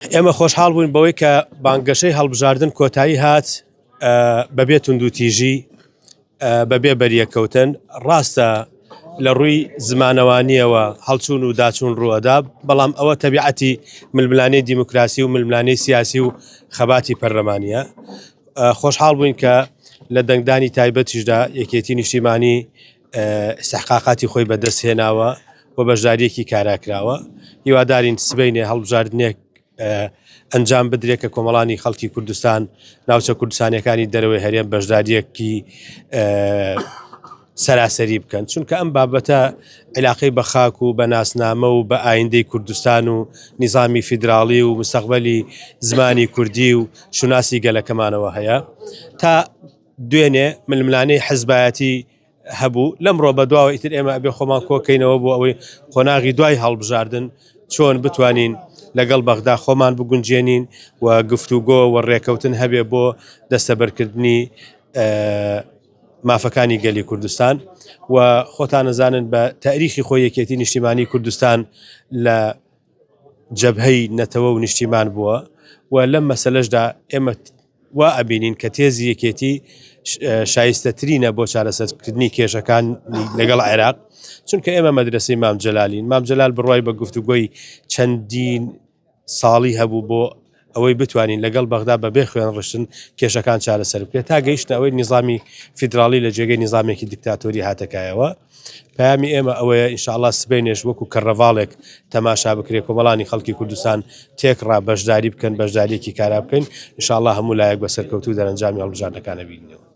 ئێمە خۆشحاڵ بووین بەوەی کە بانگەشەی هەڵبژاردن کۆتایی هات بەبێ توندوتیژی بەبێ بەریەکەوتن ڕاستە لە ڕووی زمانەوانیەوە هەڵچوون و داچوون ڕووەدا بەڵام ئەوە تەبیعەتی ململانەی دیموکراسی و ململانەی سیاسی و خەباتی پەرلەمانە خۆشحاڵ بووین کە لە دەنگدانی تایبەتیشدا یەکێتی نیشتیمانی ئیستحقاقاتی خۆی بەدەست هێناوە و بەشدارییەکی کارا کراوە هیوادارین سبەینێ هەڵبژاردنێک ئەنجام بدرێت کە کۆمەڵانی خەڵکی کوردستان ناوچە کوردستانەکانی دەرەوەی هەرێم بەشداریەکی سەراسەری بکەن چونکە ئەم بابەتە علاقەی بە خاک و بە ناسنامە و بە ئایندەی کوردستان و نظامی فیدراالی و مستەقبلی زمانی کوردی و شوناسی گەلەکەمانەوە هەیە تا دوێنێ ململانێی حزبایەتی هەبوو، لەمڕۆ بەدواوە ئیتر ئێمە ئەبێ خۆمان کۆکەینەوە بۆ ئەوەی قۆناغی دوای هەڵبژاردن چۆن بتوانین لەگەڵ بەغدا خۆمان بگونجێنین و گفتوگۆ و ڕێکەوتن هەبێ بۆ دەستەبەرکردنی مافەکانی گەلی کوردستان و خۆتان نەزانن بە تاریخی خۆ یەکێتی نیشتیمانی کوردستان لە جەبهەی نەتەوە و نیشتیمان بووە و لەم مەسلەشدا ئێمە وا ئەبینین کە تێزی یەکێتی شایستەترینە بۆ چارەسەرکردنی کێشەکانی لەگەڵ عێراق، چونکە ئێمە مەدرەسەی مام جەلالین، مام جەلال بڕوای بە گفتوگۆی چەندین ساڵی هەبوو بۆ ئەوەی بتوانین لەگەڵ بەغدا بەبێ خوێنڕشتن کێشەکان چارەسەر بکرێت، تا گەیشتە ئەوەی نیزامی فیدراڵی لە جێگەی نیزامێکی دیکتاتۆری هاتە کایەوە. پەیامی ئێمە ئەوەیە ان شاءاللە سبەینێش وەکو کەرنەڤاڵێک تەماشا بکرێت، کۆمەڵانی خەڵکی کوردستان تێکڕا بەشداری بکەن، بەشدارییەکی کارا بکەین، ان شاءاللە هەموو لایەک بە سەرکەوتوو دەرەنجامی هەڵبژاردنەکان ئەبینینەوە.